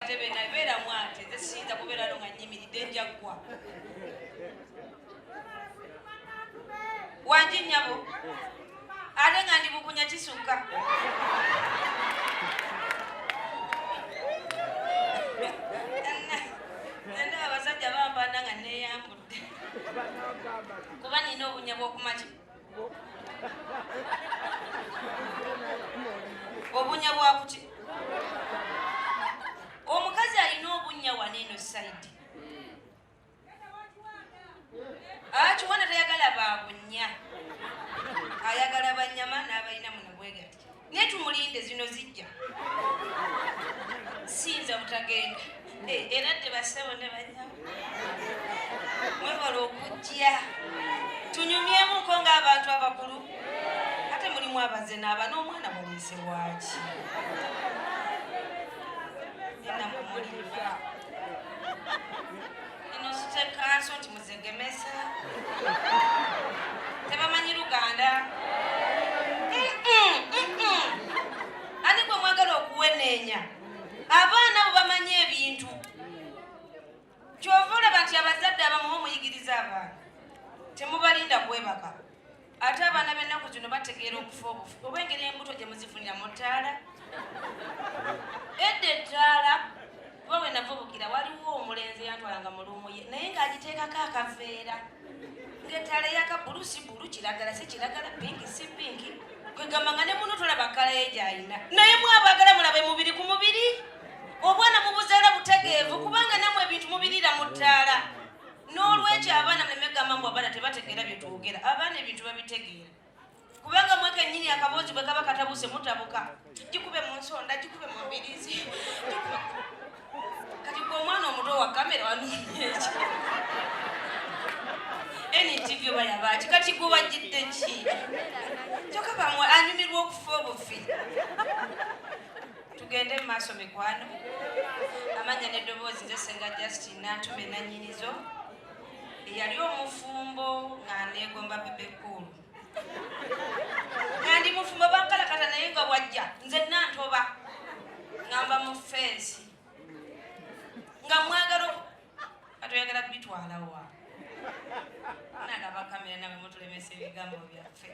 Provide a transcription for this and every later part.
ntebe nabeera mwate nze siyinza kubeera no nga nyimiridde njaggwa wangi nyabo ate nga ndi bukunya kisukka enda abasajja bambanda nga neyambudde kuba nina obunya bwokumakima obunya bwakuki omukazi alina obunya wana eno saidi akiwana ah, tayagala babunya ayagala banyama n'abalina munabwegati naye tumulinde zino zijja siyinza butagenda eh, era tebasebo ne banyawo mwebala okujja tunyumyemuko ng'abantu abakulu ate mulimu abaze naaba n'omwana muliise waaki enamwe mulimu Ino sute kanso nti muzegemesa. Tebamanyi Luganda. Ani gwe mwagala okuweneenya abaana bo bamanyi ebintu kyova olaba nti abazadde abamu muyigiriza abaana temubalinda kwebaka ate abaana b'ennaku zino bategeera okufa obufi oba engeri embuto gye muzifunira mu ttaala edda ettaala kuba we navubukira waliwo omulenzi yantwalanga mu luumu ye naye ng'agiteekako akaveera ng'ettaala eyaka bulu si bulu kiragala si kiragala pinki si pinki kwegamba nga ne muno tolaba kkala ye gy'alina naye mwabagala mulabe mubiri ku mubiri obwana mubuzaala butegeevu kubanga namwe ebintu mubiriira mu ttaala n'olwekyo abaana muleme gamba mbu abaana tebategeera bye twogera abaana ebintu babitegeera kubanga mweke nyini akaboozi bwe kaba katabuse mutabuka gikube mu nsonda gikube mu mbirizi kati gwe omwana omuto wa kamera wanonyeeki ntv oba yabaaki kati gwe wajjidde ki kyoka bamwe anyumirwa okufa obufi tugende mu maaso mikwano amanya n'eddoboozi nze senga justin nantume nanyinizo eyali omufumbo nga negomba bebe cool nga ndi mufumbo bankalakata naye nga wajja nze nantoba ngamba mu fensi nga mwagala atoyagala kubitwalawa nalaba kamera nawe mutulemesa ebigambo byaffe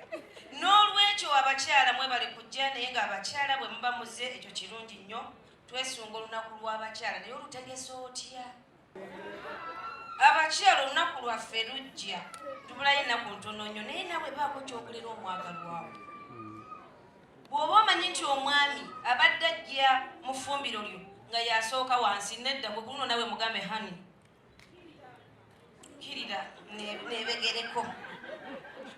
n'olwekyo abakyala mwebale kujja naye nga abakyala bwe muba muze ekyo kirungi nnyo twesunga olunaku lw'abakyala naye olutegesa otya abakyala olunaku lwaffe lujja tubulayo enaku ntono nnyo naye nawe baako kyokulera omwagalwawo Bw'oba omanyi nti omwami abadde ajja mu ffumbiro lyo nga y'asooka wansi, nedda gwe ku luno nawe mugambe honey kirira nebegereko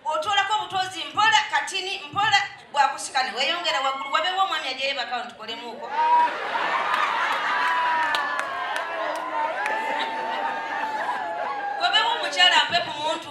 otoolako obutozi mpola katini mpola bwakusika ne weyongera waggulu wabeewo omwami ajayo bakawo tukolemuuko wabeewo omukyala mpe ku muntu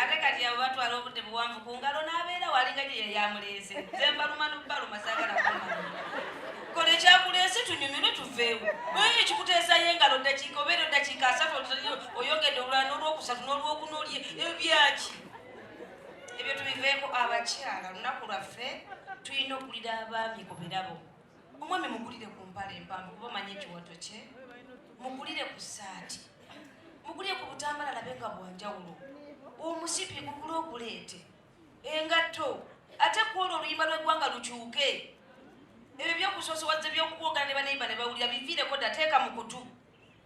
ate kati abo batwala obudde buwanvu ku ngalo n'abeera walinga gye yali amuleese nze mbaluma n'okubaluma saagala kumanya kola ekyakuleese tunyumirwe tuveewo oyo ekikuteesayo engalo ddakiika obeera eddakiika asatu oyogedde olulala n'olwokusatu n'olwokuna olye ebyaki ebyo tubiveeko abakyala olunaku lwaffe tulina okulira abaami ku birabo omwami mugulire ku mpale empanvu kuba manyi ekiwato kye mugulire ku saati mugulire ku butambala labe nga bwanjawulo omusipi gugule oguleete engatto ate kwolwo oluyimba lw'eggwanga lukyuke ebyo byokusoosowaza ebyokukwogana ne baneiba ne bawulira biviireko dda teeka mu kutu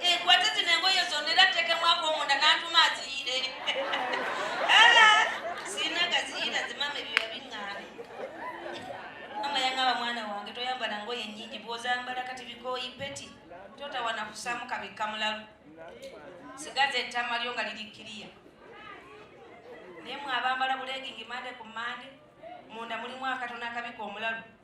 enkwate zino engoye zonna era tteekemu akomunda n'antuma aziyire sirina gaziyira zimama ebyo yabiŋŋaane mama yaŋaba mwana wange toyambala ngoye nnyingi bw'ozambala kati bikooyi peti totawana kusaamu kabikka mulalu sigaza ettama lyo nga liri kiriya naye mwabambala buleegingi mande ku mande munda mulimu akatona akabika omulalu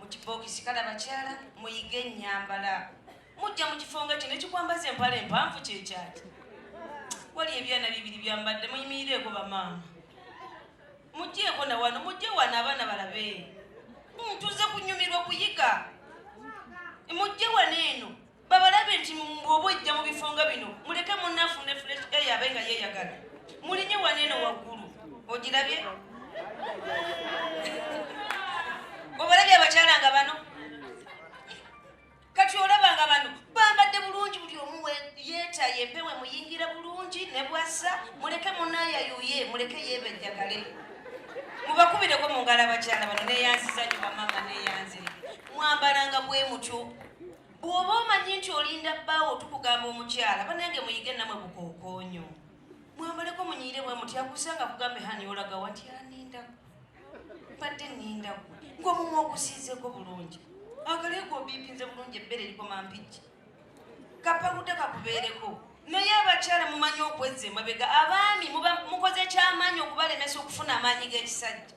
mu kibookisi kale abakyala muyige ennyambala mujja mu kifo nga kino ekikwambaza empala empanvu kyekyaki wali ebyana bibiri byambadde muyimirireeko bamaama mujjeeko na wano mujje wano abaana balabe ntuze kunyumirwa kuyiga mujje wano eno babalabe nti bwoba ojja mu bifo nga bino muleke munafu ne fresh air abe nga yeyagala mulinye waneeno waggulu ogirabye obalabye abakyala nga bano kati olaba nga bano bambadde bulungi buli omu yeetaye empewe muyingira bulungi ne bwassa muleke munayayuye muleke yebejjagale mubakubireko mu ngalo abakyala bano neyanziza nyo bamama neyanzire mwambalanga bwe mutyo bw'oba omanyi nti olinda bbaawo tukugamba omukyala banange muyige namwe bukookoonyo mwamaleko munyiire bwe muti akusanga kugambe hani olaga wati anindaku mbadde nindaku ng'omumu ogusiizeko bulungi akaleeko obiipinze bulungi ebbeere likoma mpijja kapakuta kakubeereko naye abakyala mumanyi okwezza emabega abaami mukoze kyamaanyi okubalemesa okufuna amaanyi g'ekisajja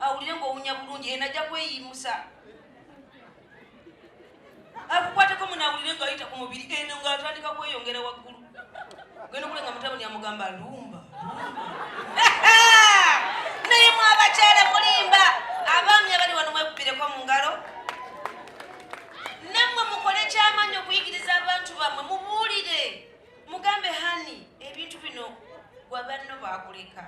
awulire ng'owunya bulungi eno ajja kweyimusa akukwateko muno awulire ng'ayita ku mubiri eno ng'atandika kweyongera waggulu genda okulenga mutabani amugamba lumba naye mwabakyala mulimba abaami abali wano mwekubireko mu ngalo nammwe mukole kyamaanyi okuyigiriza abantu bammwe mubuulire mugambe hani ebintu bino gwabanno bakuleka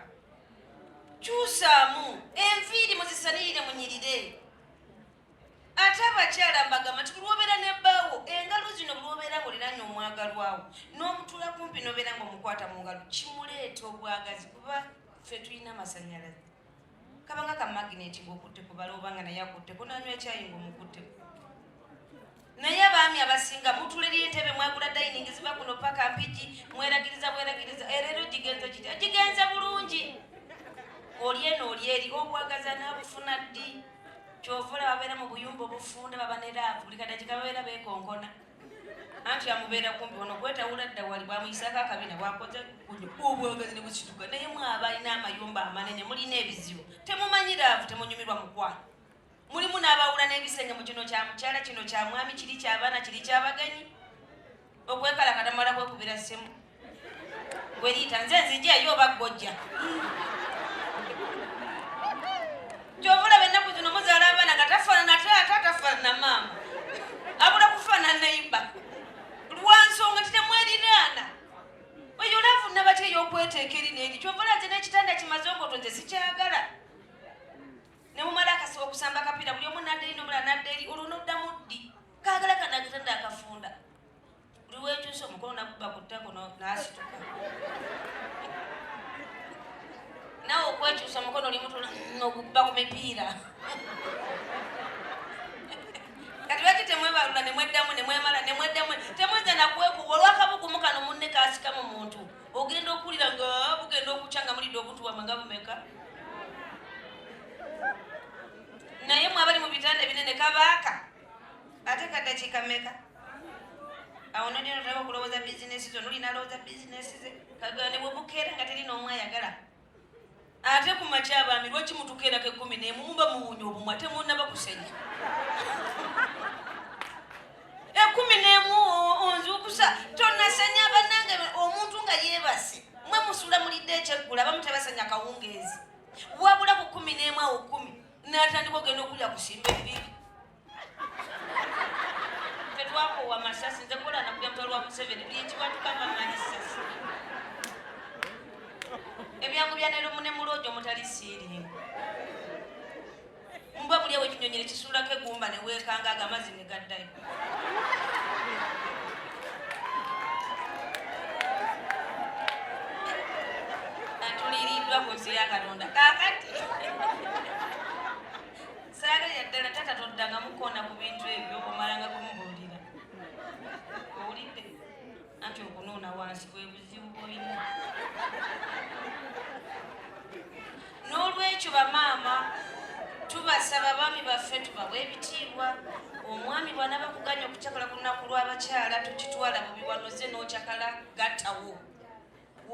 kyusaamu enviiri muzisanirire munyirire ate abakyala mbagamba nti kulwobeera ne bbaawo engalo zino bulwobeera ngaoliranye omwagalwawo n'omutuula kumpi nobeera nga omukwata mu ngalo kimuleeta obwagazi kuba ffe tulina amasanyalaze kabanga ka magineti ngaokutte kubala obanga naye akutteko nanywa ekyayi ngaomukutteko Naye abaami abasinga mutulirira entebe mwagula dayiningi ziva kuno paka mpigi mweragiriza bweragiriza erero eh, gigenze kiti gigenze bulungi oli eno oli eri obwagaza nabufuna ddi kyovula babeera mu buyumba obufunda baba ne laavu buli kadakika babeera bekonkona anti amubeera kumbi ono gwetawula dda wali bwamuyisako akabina bwakoze obwagazi ne bukituka naye mwaba alina amayumba amanene mulina ebizibu temumanyi laavu temunyumirwa mukwano mulimu n'abawula n'ebisenge mu kino kya mukyala kino kya mwami kiri kyabaana kiri kyabagenyi okwekalakata mala kwekubira ssimu gweriita nze nzija eyo oba ggojja kyovulaba ennaku zino muzaala abaana nga tafaanana taata tafaanana maama abula kufaanana nayimba lwansonga titemweriraana oyo olavu nabatya eyokweteeka eri neeri kyovula nze n'ekitanda kimaze okoto nze sikyagala ne mumala akasiba okusamba akapiira buli omu nadda eri nomula nadda eri olwo noddamu ddi kaagala kanakitanda akafunda buli wekyusa omukono nakuba ku ttako nasituka nawe okwekyusa omukono olimutula nokuba ku mipiira kati lwaki temwebalula nemweddamu nemwemala nemweddamu temweza nakwekuba olwakabugumukano munne kasika mu muntu Ogenda okuwulira nga bugenda okukya nga mulidde obuntu bwamwe nga bumeka naye mwe abali mu bitanda ebinene kabaaka ate kadakiika meka awo nodino tolaba okulowooza bizinesi zo nolina alowooza bizinesi ze kagane bwebukera nga teri n'omu ayagala ate ku makya abaami lwaki mutuka erako ekkumi nemu muba muwunya obumwa temunaba kusenya ekkumi nemu onzukusa tonasenya banange omuntu nga yebase mwe musula mulidde ekyeggula abamu tebasenya kawungeezi wabula ku kumi nemu awo kumi natandika ogenda okulya kusimba ebibi tetwakowa masasi nze kola nakuja mutwalo wa museveni buli ekiwatika nga manyi sasi ebyangu bya neromu ne muloojo mutali siiri mba buli ewo ekinyonyi nekisuulako egumba neweekanga aga amazzi ne gaddayo atuliriddwa ku nsi ya katonda kakati saagalira ddala taata toddangamu kukoona ku bintu ebyo omalanga kumubuulira owulidde anti okunuuna wansi bwe buzibu bwolina n'olwekyo bamaama tubasaba baami baffe tubawa ebitiibwa omwami bwana bakuganya okucakala ku lunaku lw'abakyala tukitwala bubiwanoze n'ocakala gattawo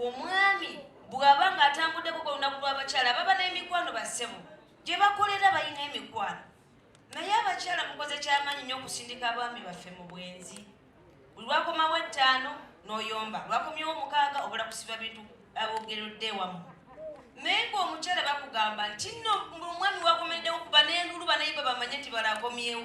omwami bw'aba ng'atambuddeko ku lunaku lw'abakyala baba n'emikwano bassebo gye bakolera balina emikwano naye abakyala mukoze kyamaanyi nnyo okusindika abaami baffe mu bwenzi buli lwakomawo ettaano n'oyomba lwakomyewo omukaaga obula kusiba bintu abogeredde wamu naye ngaomukyala bakugamba nti no omwami wakomeddewo kuba n'enduulu banayiba bamanye nti balakomyewo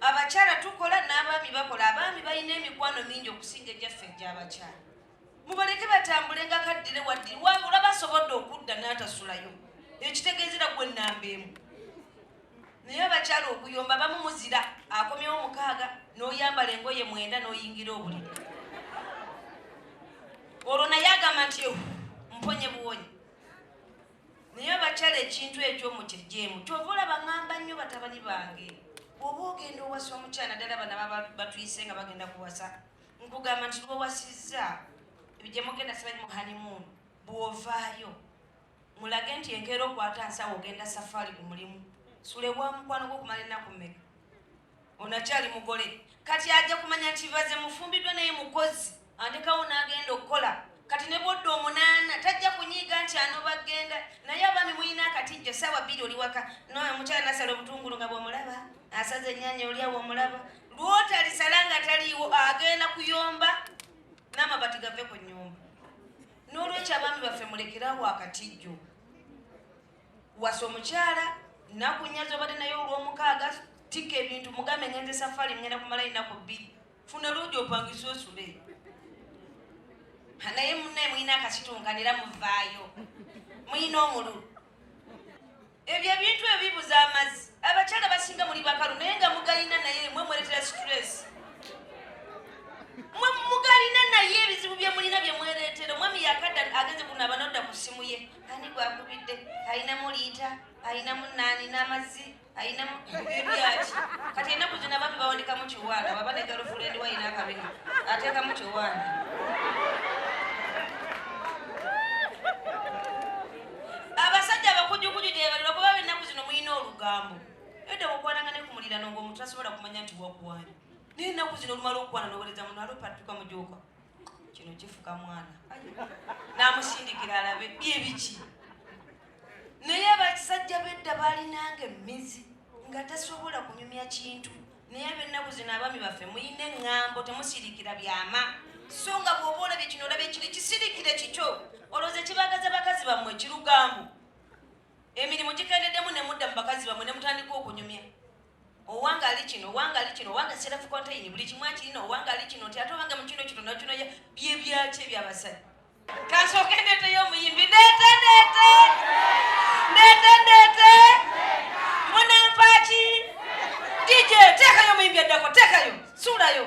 abakyala tukola n'abaami bakola abaami balina emikwano mingi okusinga egyaffe egy'abakyala mubaleke batambule nga kaddire waddi wabula basobodde okudda n'atasulayo ekitegeezera gwe nnamba emu naye abakyala okuyomba bamu muzira akomyewo mukaaga n'oyambala engoye mwenda n'oyingira obuliri olwo naye agamba nti mponye buwonyi naye abakyala ekintu ekyo mukijeemu kyova olaba ngamba nnyo batabani bange oba ogenda owasa omukyala naddala bana batuyise nga bagenda kuwasa nkugamba nti lwowasizza ebigyemugenda sibanyi muhanimun bwovaayo mulage nti enkeera okwata nsawo ogenda safaali ku mulimu sulewa mukwano gwokumala ennaku mmeka ono akyali mugole kati ajja kumanya nti baze mufumbiddwa naye mukozi andekawo n'agenda okukola kati ne bwodda omunaana tajja kunyiiga nti anoba genda naye abaami mulina akatijjo saawa bbiri oli waka nomukyala nasala obutungulu nga bwomulaba asaza ennyanya olyawo omulaba lwotalisala nga taliiwo agenda kuyomba n'amabati gave ku nnyumba n'olwekyo abaami baffe mulekerawo akatijjo wasa omukyala nakunya zobadde naye olwomukaaga tika ebintu mugambe ngenze safari ngenda kumala enaku bbiri funa luugi opangisa osule naye munaye mulina akasitunkanira muvaayo mulina omululu ebyo ebintu ebyo bibuza amazzi abakyala basinga muli bakalu naye nga mugalina naye mwe mweretera stress mwe mugalina naye ebizibu byemulina byemweretera omwami yakadda agenze kuno abanodda ku ssimu ye ani gwakubidde alinamu liita alinamu naani n'amazzi alinamu byaki kati enaku zina bami bawandikamu kiwanda baba ne galufulendi wayina akabina ateekamu kiwanda abasajja abakujukuju gyebalirwa kuba benaku zino mulina olugambo edda mukwananga ne kumulirano ngaomuntu asobola kumanya nti wakuwani naye enaku zino olumala okukwana nowereza muno alopatuka mujuuka kino kifuka mwana namusindikira alabe bye biki naye abakisajja bedda balinanga emizi nga tasobola kunyumya kintu naye abennaku zino abaami baffe muyina eŋŋambo temusirikira byama so nga bwoba olabye kino olabye kiri kisirikire kikyo olowooza kibagaza bakazi bammwe kirugambo emirimu gikendeddemu ne mudda mu bakazi bammwe ne mutandika okunyumya owange ali kino owange ali kino owange self contain buli kimu akirina owange ali kino nti ate owange mu kino kino nakino bye byaki ebyabasajja kasooke ndeeteyo omuyimbi ndeete ndeete ndeete ndeete munampaaki dj teekayo omuyimbi addako teekayo suulayo